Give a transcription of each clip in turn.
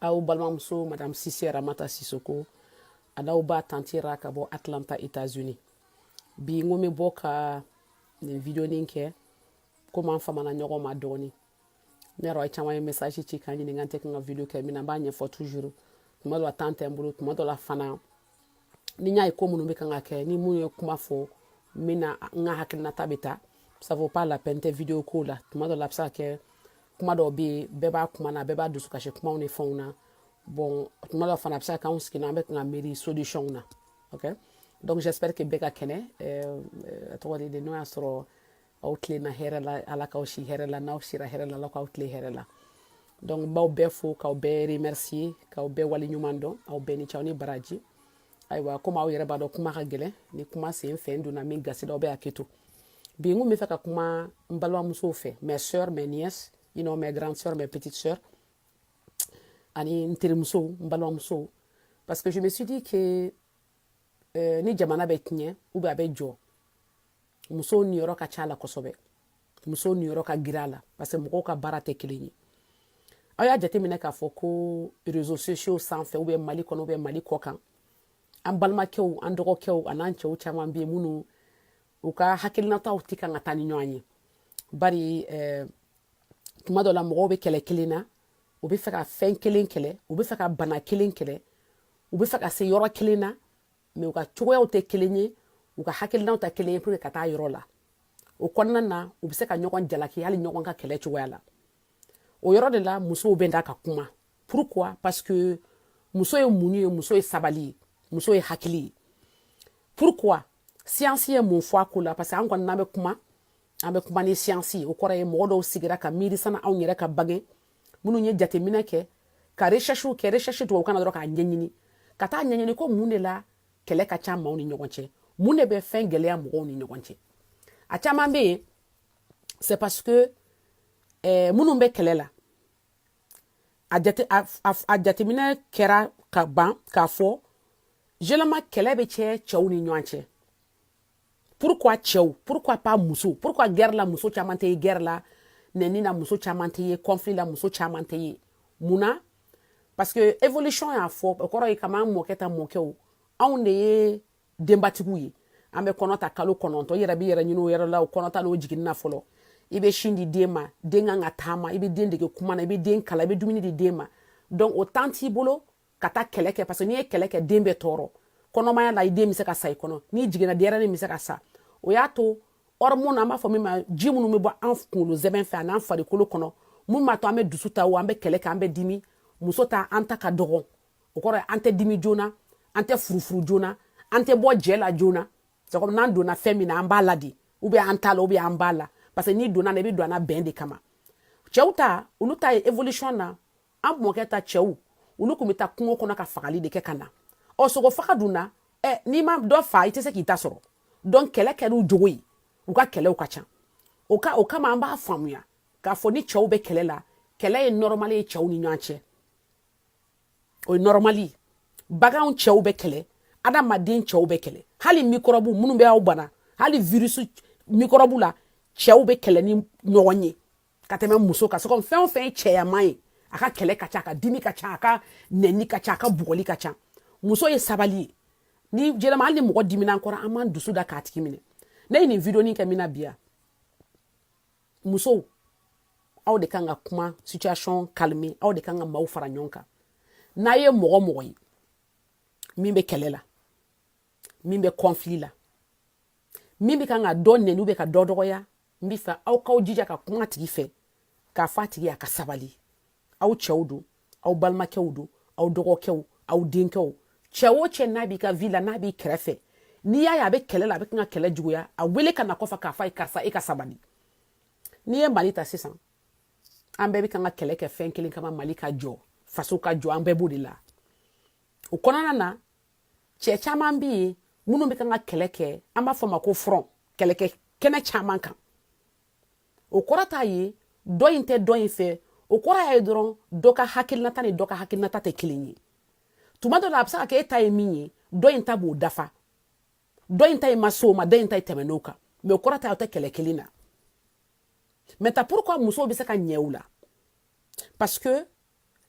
aw balimamuso madame sise ramata sisoko an'aw ba tante ra ka bɔ atlanta états-unis bi n ko n bɛ bɔ ka nin videonin kɛ komi an famana ɲɔgɔn ma dɔɔni ne yɛrɛ a caman ye message ci ka n ɲininka n tɛ kan ka video kɛ mun na n b'a ɲɛfɔ toujours tuma dɔ la temps tɛ n bolo tuma dɔ la fana ni n y'a ye ko minnu bɛ kan ka kɛ ni mun ye kuma fɔ min na n ka hakilinata bɛ ta ça vaut pas la peine tɛ video ko la tuma dɔ la a bɛ se ka kɛ kuma dɔw bɛ yen bɛɛ b'a kuma na bɛɛ b'a dusukasi kumaw ni fɛnw na bon tuma dɔ fana a bɛ se ka kɛ anw sigilen an bɛ kan ka miiri solution na ok donc j'espère que bɛɛ ka kɛnɛ a tɔɔrɔ tɛ n'o y'a sɔrɔ aw tilenna hɛrɛ la ala k'aw si hɛrɛ la n'aw sira hɛrɛ la ala k'aw tile hɛrɛ la donc n b'aw bɛɛ fo k'aw bɛɛ remercier k'aw bɛɛ wale ɲuman dɔn aw bɛɛ ni ce aw ni baraji ayiwa komi aw yɛrɛ b'a dɔn kuma ka gɛlɛn ni kuma sen fɛ n donna min gasi la aw bɛ hakɛ to bi n ko n bɛ fɛ ka kuma n balimamusow fɛ mes sœurs mes nièces you know mes grandes sœurs mes petites sœurs ani n terimusow n balimamusow parce que je me suis dit que euh, ni jamana bɛ tiɲɛ ou bien a bɛ jɔ musow niyɔrɔ ka ca a la kosɛbɛ musow niyɔrɔ ka girin a la parce que mɔgɔw ka baara tɛ kelen ye aw y'a jateminɛ k'a fɔ ko réseaux sociaux sanfɛ ou bien mali kɔnɔ ou bien mali kɔkan an balimakɛw an dɔgɔkɛw an'an cɛw caman bɛ yen minnu u ka hakilinataw tɛ kan ka taa ni ɲɔgɔn ye bari eh, tuma dɔ la mɔgɔw bɛ kɛlɛ kelen na u bɛ fɛ ka fɛn kelen kɛlɛ u bɛ fɛ ka bana kelen kɛlɛ u bɛ fɛ ka se yɔrɔ kelen na mais u ka cogoyaw tɛ kelen ye u ka hakilinaw tɛ kelen ye pour ka taa yɔrɔ la o kɔnɔna na u bɛ se ka ɲɔgɔn jalaki hali ɲɔgɔn ka kɛlɛ cogoya la o yɔrɔ de la musow bɛ da ka kuma pourquoi parce que muso ye mun ye muso ye sabali ye muso ye hakili ye pourquoi siyansi ye mun fɔ a ko la parce que an kɔni n'an bɛ kuma an bɛ kuma ni siyansi o kɔrɔ ye mɔgɔ dɔw sigira ka miiri sani anw yɛrɛ ka bange minnu ye jateminɛ kɛ ka resɛsiw kɛ resɛsi tubabukan na dɔrɔn k'a ɲɛɲini ka taa ɲɛɲini ko mun de la kɛlɛ ka ca maaw ni ɲɔgɔn cɛ mun de bɛ fɛn gɛlɛya mɔgɔw ni ɲɔgɔn cɛ a caman bɛ yen c'est parce que eh, minnu bɛ kɛlɛ la a jate a, a, a jateminɛ kɛra ka ban k'a fɔ généralement kɛlɛ bɛ cɛ cɛw ni ɲɔgɔn cɛ pourquoi cɛw pourquoi pas muso pourquoi guerre la muso caman tɛ yen guerre la nɛni na muso caman tɛ yen conflit la muso caman tɛ yen mun na parce que évolution y'a fɔ o kɔrɔ ye kab'an mɔkɛ ta mɔkɛw anw de ye denbatigiw ye an bɛ kɔnɔ ta kalo kɔnɔntɔn i yɛrɛ b'i yɛrɛ ɲini o yɛrɛ la o kɔnɔ ta n'o jiginni na fɔlɔ i bɛ sin di den ma den kan ka taama i bɛ den dege kuma na i bɛ den kalan i bɛ dumuni di den ma donc o temps t'i bolo ka taa kɛlɛ kɛ parce que n'i ye kɛlɛ kɛ den bɛ tɔɔrɔ kɔnɔmaya la i den bɛ se ka sa i kɔnɔ n'i jiginna denyɛrɛnin bɛ se ka sa o y'a to hormone an b'a fɔ min ma ji minnu bɛ bɔ an kunkolo sɛmɛn fɛ an'an farikolo kɔnɔ mun b'a to an bɛ dusu ta o an bɛ kɛlɛ kɛ an bɛ dimi muso ta an ta ka dɔgɔn o kɔrɔ ye an tɛ dimi joona an tɛ furufuru joona an tɛ bɔ jɛ la joona c'est comme n'an donna fɛn min na an b'a la de ou bien an t'a la ou bien an b'a la parce que n'i donna na i bɛ don a la bɛn de kama cɛw ta olu ta ye évolution na an mɔkɛ ta cɛw olu kun bɛ taa kungo kɔnɔ ka fagali de kɛ ka na ɔ sogo fa k'a dun na ɛ n'i ma dɔ fa i tɛ se k'i ta sɔrɔ donc kɛlɛ kɛr'u jogo ye u ka kɛlɛw ka ca o ka o kama an b'a faamuya k'a fɔ ni cɛw bɛ kɛlɛ la kɛlɛ ye nɔrɔmali ye cɛw ni ɲɔgɔn cɛ o ye nɔrɔmali baganw cɛw bɛ kɛlɛ adamaden cɛw bɛ kɛlɛ hali mikɔrɔbu minnu bɛ aw bana hali virisi mikɔrɔbu la cɛw bɛ kɛlɛ ni ɲɔgɔn ye ka tɛmɛ muso kan sogo fɛn o fɛn ye cɛyaman ye a ka kɛlɛ ka ca a ka dimi ka ca a ka nɛni ka ca a ka bugɔli ka ca muso ye sabali ye ni jɛlɛma hali ni mɔgɔ dimina an kɔrɔ an b'an dusu da k'a tigi minɛ ne ye nin video nin kɛ min na bi ya musow aw de kan ka kuma situation calmer aw de kan ka maaw fara ɲɔgɔn kan n'a ye mɔgɔ mɔgɔ ye min bɛ kɛlɛ la min bɛ conflit la min bɛ kan ka dɔ nɛni bɛ ka dɔ dɔgɔya n bɛ fɛ aw k'aw jija ka kuma a tigi fɛ k'a fɔ a tigi ye a ka sabali aw cɛw don aw balimakɛw don aw dɔgɔkɛw aw denkɛw cɛ o cɛ n'a b'i ka vie la n'a b'i kɛrɛfɛ n'i y'a ye a bɛ kɛlɛ la a bɛ kan ka kɛlɛ juguya a wele ka na kɔfɛ k'a fɔ a ye karisa e ka sabali n'i ye mali ta sisan an bɛɛ bɛ kan ka kɛlɛ kɛ fɛn kelen kama mali ka jɔ faso ka jɔ an bɛɛ b'o de la o kɔnɔna na cɛ caman be yen minnu be kan ka kɛlɛ kɛ an b'a fɔ ma ko front kɛlɛkɛ kɛnɛ caman kan o kɔrɔ t'a ye dɔ in tɛ dɔ in fɛ o kɔrɔ y'a ye dɔrɔn dɔ ka hakilinata ni dɔ ka hakilinata tɛ kelen ye tuma dɔ la a be se ka kɛ e ta ye min ye dɔ in ta b'o dafa dɔ in ta ye ma s'o ma dɔ in ta ye tɛmɛn'o kan mais o kɔrɔ t'a ye u tɛ kɛlɛ kelen na maintenant pourquoi musow be se ka ɲɛ o la parce que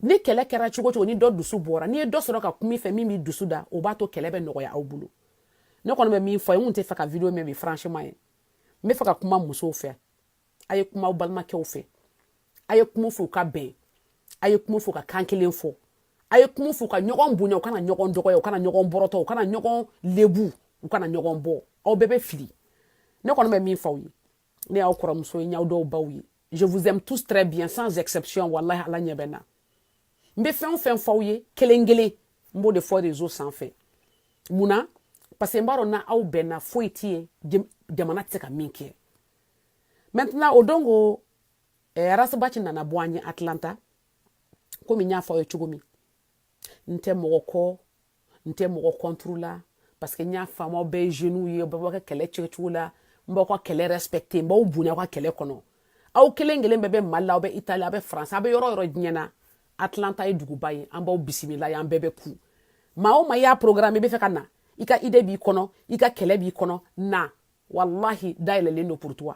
ni kɛlɛ kɛra cogo o cogo ni dɔ dusu bɔra n'i ye dɔ sɔrɔ ka kuma i fɛ min b'i dusu da o b'a to kɛlɛ bɛ nɔgɔya aw bolo ne kɔni bɛ min fɔ n kun tɛ fɛ ka video mɛn bi franchement ye n bɛ fɛ ka kuma musow fɛ a ye kuma aw balimakɛw fɛ a ye kuma fɔ u ka bɛn a ye kuma fɔ ka kan kelen fɔ a ye kuma fɔ ka ɲɔgɔn bonya u kana ɲɔgɔn dɔgɔya u kana ɲɔgɔn bɔrɔtɔ u kana ɲɔgɔn lebu u kana ɲɔgɔn bɔ aw bɛɛ bɛ fili ne kɔni bɛ min fɔ aw ye ne y'aw kɔrɔmuso ye n y'aw dɔw baw ye je vous aime tous très bien sans exception walahi ala ɲɛ bɛ n na n bɛ fɛn o fɛn f'aw ye kelen kelen n b'o de fɔ réseau sanfɛ mun na parce que n b'a dɔn n'aw bɛnna foyi tɛ yen jamana tɛ se ka min kɛ maintenant o don ko eh, ras bath nana bɔ an ye atlanta komi n y'a fɔ aw ye cogo min n tɛ mɔgɔ kɔ n tɛ mɔgɔ contre la parce que n y'a faamu aw bɛɛ ye jeunes ye bɛɛ b'a ka kɛlɛ kɛcogo la n b'aw ka kɛlɛ respecter n b'aw bonya aw ka kɛlɛ kɔnɔ aw kelen kelen bɛɛ bɛ mali la aw bɛ itali aw bɛ faransi aw bɛ yɔrɔ yɔrɔ diɲɛ na atlanta ye duguba ye an b'aw bisimila yan bɛɛ bɛ kun maa o maa y'a programme i bɛ fɛ ka na i ka idée b'i kɔnɔ i ka kɛlɛ b'i kɔnɔ na walahi da yɛlɛlen don pour toi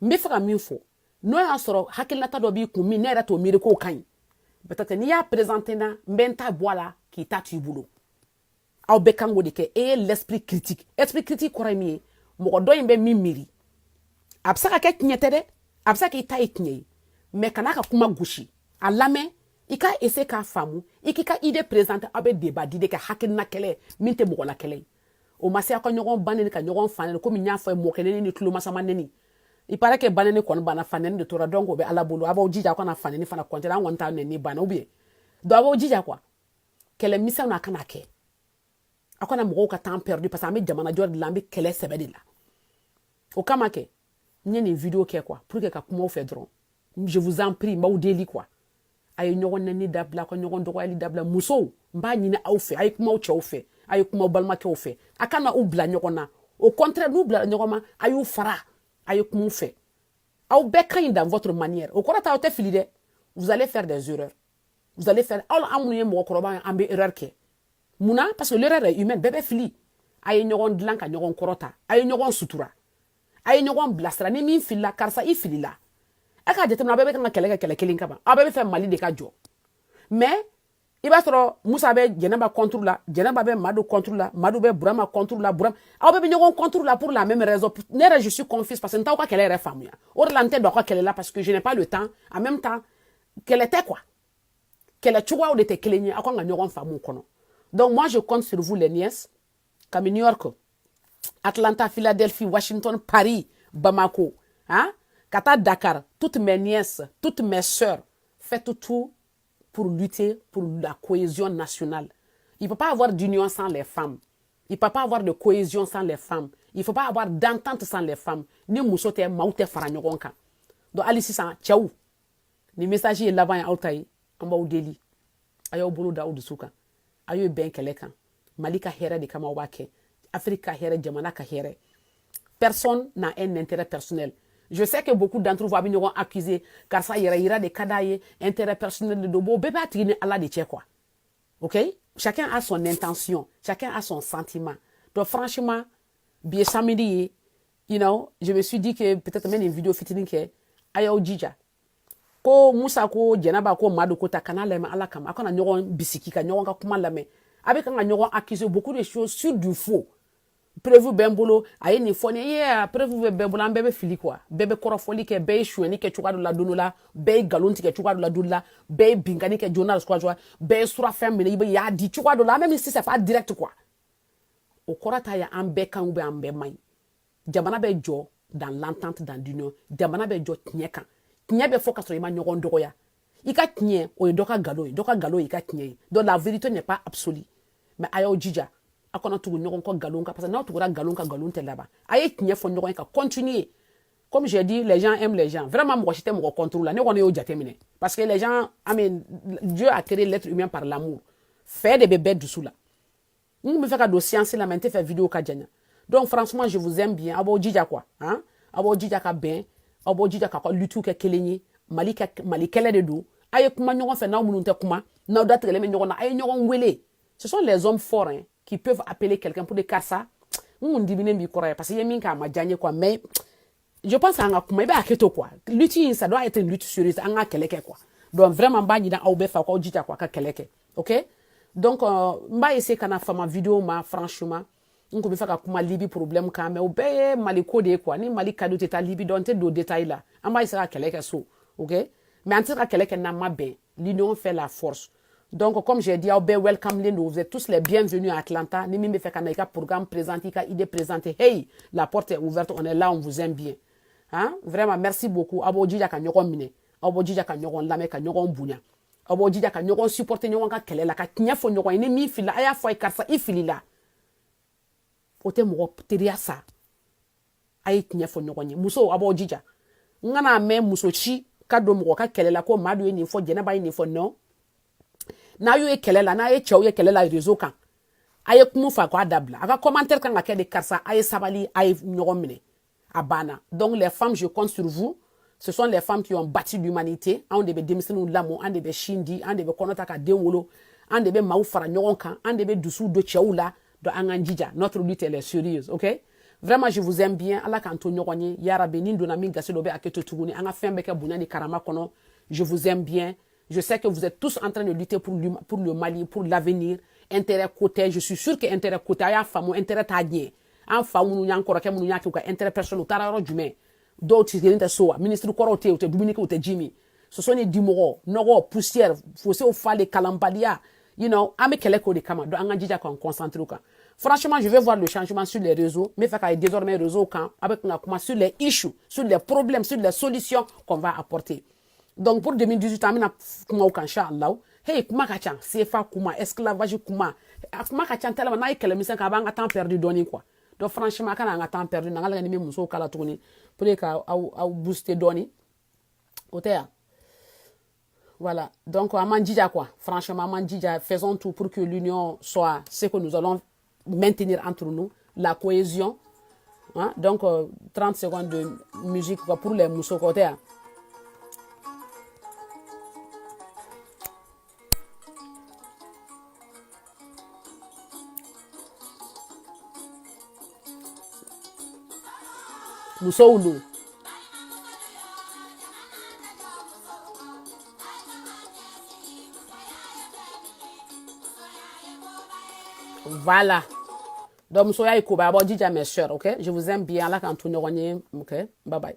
n bɛ fɛ ka min fɔ n'o y'a sɔrɔ hakilinata dɔ b'i kun min ne yɛrɛ t'o miiri k'o ka ɲi peut-être n'i y'a présenter n na n bɛ n ta bɔ a la k'i ta t'i bolo aw bɛɛ kan k'o de kɛ e ye l'esprit critique esprit critique kɔrɔ ye min ye mɔgɔ dɔ in bɛ min miiri a bɛ se ka kɛ tiɲɛ tɛ dɛ a bɛ se k'i ta ye tiɲɛ ye mais kan'a ka kuma gosi a lamɛn i ka essayer k'a faamu i k'i ka idée présenter aw bɛ débat d'idées kɛ hakilina kɛlɛ min tɛ mɔgɔ la kɛlɛ ye o ma se aw ka ɲɔgɔn banɛni ka ɲɔgɔn fanɛni komi n y'a fɔ ye mɔkɛ nɛni ni tulomasama nɛni il paraît que banɛni kɔni banna fanɛni de tora donc o bɛ ala bolo a b'aw jija aw kana fanɛni fana kɔntɛra an kɔni t'a nɛni banna ou bien donc a b'aw jija quoi kɛlɛ misɛn na a kana kɛ aw kana mɔgɔw ka temps perdu parce que an bɛ jamanajɔ de la an bɛ kɛlɛ sɛbɛ de la o kama kɛ n ye nin video kɛ quoi pour que ka kuma aw fɛ dɔrɔn je vous en prie n b'aw deli quoi a ye ɲɔgɔn nɛni dabila ka ɲɔgɔn dɔgɔyali dabila musow n b'a ɲini aw fɛ a ye kuma aw cɛw fɛ a ye kuma aw balimakɛw fɛ a kana u bila ɲɔgɔn na au contraire n'u bilara ɲɔgɔn ma a y'u fara a ye kuma u fɛ aw bɛɛ ka ɲi dans votre manière o kɔrɔ tɛ aw tɛ fili dɛ vous allez faire des erreurs vous allez faire aw an minnu ye mɔgɔkɔrɔba ye an bɛ erreur kɛ mun na parce que l'erreur est humaine bɛɛ bɛ fili a ye ɲɔgɔn dilan ka ɲɔgɔn kɔrɔta a ye ɲɔgɔn sutura a ye ɲɔgɔn bilasira ni min filila karisa i filila a k'a jateminɛ a bɛɛ bɛ kan ka kɛlɛ kɛ kɛlɛ kelen kama aw bɛɛ bɛ fɛ mali de ka jɔ mais i b'a sɔrɔ musa bɛ jɛnɛba contre la jɛnɛba bɛ madu contre la madu bɛ burama contre la burama aw bɛɛ bɛ ɲɔgɔn contre la pour la même raison ne yɛrɛ je suis confuse parce que n t'aw ka kɛlɛ yɛrɛ faamuya o de la n tɛ don aw ka kɛlɛ la parce que je n'ai pas le temps en même temps kɛlɛ tɛ quoi kɛlɛ cogoyaw de tɛ kelen ye aw kan ka ɲɔgɔn faamu o kɔnɔ donc moi je compte sur vous les nièces kabini new york atlanta philadelphie washington paris bamako hein? ka taa dakar toutes mes nièces toutes mes sœurs faites tout pour lutter pour la cohésion nationale il ne peut pas avoir d'union sans les femmes il ne peut pas avoir de cohésion sans les femmes il ne peut pas avoir d'entente sans les femmes ni muso tɛ maaw tɛ fara ɲɔgɔn kan donc hali sisan cɛw nin message ye laban ye aw ta ye an b'aw deli a y'aw bolo da aw dusu kan a ye bɛn kelen kan mali ka hɛrɛ de kama aw b'a kɛ afiriki ka hɛrɛ jamana ka hɛrɛ personne n'a un intérêt personnel je sais que beaucoup d'entre vous a bɛ ɲɔgɔn accuser karisa yɛrɛ yira de ka d'a ye intérêt personnel de don bon bɛɛ b'a tigi ni ala de cɛ quoi ok chacun a son intention chacun a son sentiment donc franchement bi ye samedi ye you know je me suis dit que peut-être n bɛ nin video fitinin kɛ a y'aw jija ko musa ko jɛnaba ko madu ko ta kana lamɛn ala kama a kana ɲɔgɔn bisigi ka ɲɔgɔn ka kuma lamɛn a bɛ kan ka ɲɔgɔn accuser beaucoup de choses sur du faux preuve bɛ n bolo a ye nin fɔ ne ye a preuve bɛ bɛɛ bolo an bɛɛ bɛ fili quoi bɛɛ bɛ kɔrɔfɔli kɛ bɛɛ ye sonyɛni kɛ cogoya dɔ la don dɔ la bɛɛ ye nkalon tigɛ cogoya dɔ la don dɔ la bɛɛ ye binkanni kɛ joona cogoya cogoya bɛɛ ye surafɛn minɛ bɛɛ y'a di cogoya dɔ la même si c'est pas direct quoi o kɔrɔ t'a ye an bɛɛ ka ɲi ou bien an bɛɛ man ɲi jamana bɛ jɔ dans l'entente dans l'union jamana bɛ jɔ tiɲɛ kan tiɲɛ bɛ fɔ ka sɔrɔ i ma ɲɔgɔn dɔgɔya i ka tiɲɛ o ye dɔ ka nkalon ye dɔ ka nkalon y'i ka tiɲɛ ye donc la vérité n'est pas absolue mais a y'aw jija a kana tugu ɲɔgɔn kɔ nkalon kan parce que n'aw tugura nkalon kan nkalon tɛ laban a ye tiɲɛ fɔ ɲɔgɔn ye ka continuer comme j'ai dit les gens aiment les gens vraiment mɔgɔ si tɛ mɔgɔ contre la ne kɔni y'o jateminɛ parce que les gens I mean Dieu a créé l'être humain par l'amour fɛ de bɛ bɛɛ dusu la n tun bɛ fɛ ka don science la mais n tɛ fɛ vidéo ka janya donc franchement je vous aime bien aw b'aw jija quoi hein? aw b'aw jija ka bɛn aw b'aw jija k'aw ka lutte kɛ kelen ye mali ka mali kɛlɛ de don a ye kuma ɲɔgɔn fɛ n'aw minnu tɛ kuma n'aw datigɛlen bɛ ɲɔgɔn na a ye ɲɔgɔn wele ce sont les hommes forts hein, qui peuvent appeler quelqu'un pour dire karisa n kun diminen b'i kɔrɔ parce que i ye min kɛ a ma diya n ye quoi mais je pense an ka kuma i bɛ hakɛto quoi lutte in ça doit être une lutte sérieuse an ka kɛlɛ kɛ quoi donc vraiment n b'a ɲinin aw bɛɛ fɛ aw k'aw jija quoi ka kɛlɛ kɛ ok donc euh, n b'a essayer kana fama vidéo ma franchement n kun bɛ fɛ ka kuma libi problème kan mais o bɛɛ ye mali ko de ye quoi ni mali ka di u tɛ taa libi donc n tɛ don détail la an b'a essayer ka kɛlɛ kɛ so ok mais an tɛ se ka kɛlɛ kɛ n'an ma bɛn l'union fait la force donc comme j'ai dit aw bɛɛ welcome len vous êtes tous les bienvenus à Atlanta ni min bɛ fɛ ka na i ka programme présenter i ka idée présenter hey la porte est ouverte on est là on vous aime bien hein vraiment merci beaucoup aw b'aw jija ka ɲɔgɔn minɛ aw b'aw jija ka ɲɔgɔn lamɛn ka ɲɔgɔn bonya aw b'aw jija ka ɲɔgɔn supporter ɲɔgɔn ka kɛlɛ la ka tiɲɛ fɔ ɲɔgɔn ye ni min filila a y'a fɔ a ye karisa i filila o tɛ mɔgɔ teriya sa a ye tiɲɛ fɔ ɲɔgɔn ye musow aw b'aw jija n kana mɛn muso si ka don mɔgɔ ka kɛlɛ la ko madu ye nin fɔ jɛnɛba ye nin fɔ non n'a y'u ye kɛlɛ la n'a ye cɛw ye kɛlɛ la réseau kan a ye kuma u fɛ k'a dabila a ka commentaire kan ka kɛ de karisa a ye sabali a ye ɲɔgɔn minɛ a banna donc les femmes je compte sur vous ce sont les femmes qui ont bâti l'humanité anw de bɛ denmisɛnninw lamɔ an de bɛ sin di an de bɛ kɔnɔ ta ka den wolo an de bɛ maaw fara ɲɔgɔn kan an de bɛ dusuw don cɛw la Donc an k'an jija notre lutte elle est sérieuse ok vraiment je vous aime bien ala k'an to ɲɔgɔn ye yarabi ni n donna min gasi la o bɛ hakɛto tuguni an ka fɛn bɛɛ kɛ bonya ni karama kɔnɔ je vous aime bien je sais que vous êtes tous en train de lutter pour, lui, pour le Mali pour l'avenir intérêt ko tɛ je suis sûr que intérêt ko tɛ a y'a faamu intérêt t'a ɲɛ an fa minnu y'an kɔrɔkɛ minnu y'a kɛ u ka intérêt personnel u taara yɔrɔ jumɛn dɔw tɛ kelen tɛ so wa minisiri kɔrɔw tɛ yen u tɛ dumuni kɛ u tɛ ji min soso ni dimɔgɔ nɔgɔ poussière fosew falen kalanbaliya you know an bɛ kɛlɛ k'o de kama donc an ka jija k'an concentrer kan franchement je veux voir le changement sur les réseaux n b'a fɛ k'a ye désormais réseau kan an bɛ kan ka kuma sur les issues sur les problèmes sur les solutions qu'on va apporter donc pour 2018 an bɛna kuma o kan inchallah hey kuma ka ca sefa kuma esclavage kuma a kuma ka ca tellement n'a ye kɛlɛmisɛn kɛ a b'an ka temps perdu dɔɔni quoi donc franchement a kana an ka temps perdu na an ka lajɛ ni bɛ musow kala tuguni pour que ka aw booster dɔɔni o tɛ yan voilà donc an b'an jija quoi franchement an b'an jija faisons tout pour que l'union soit ce que nous allons maintenir entre nous la cohésion hein? donc euh, 30 secondes de musique quoi, pour les musow o tɛ yan Musolu Voilà. Donc, musoya ye koba aw b'aw jija mes sœurs, ok? Je vous aime bien. Ala k'an to ɲɔgɔn ye, ok? Bye bye.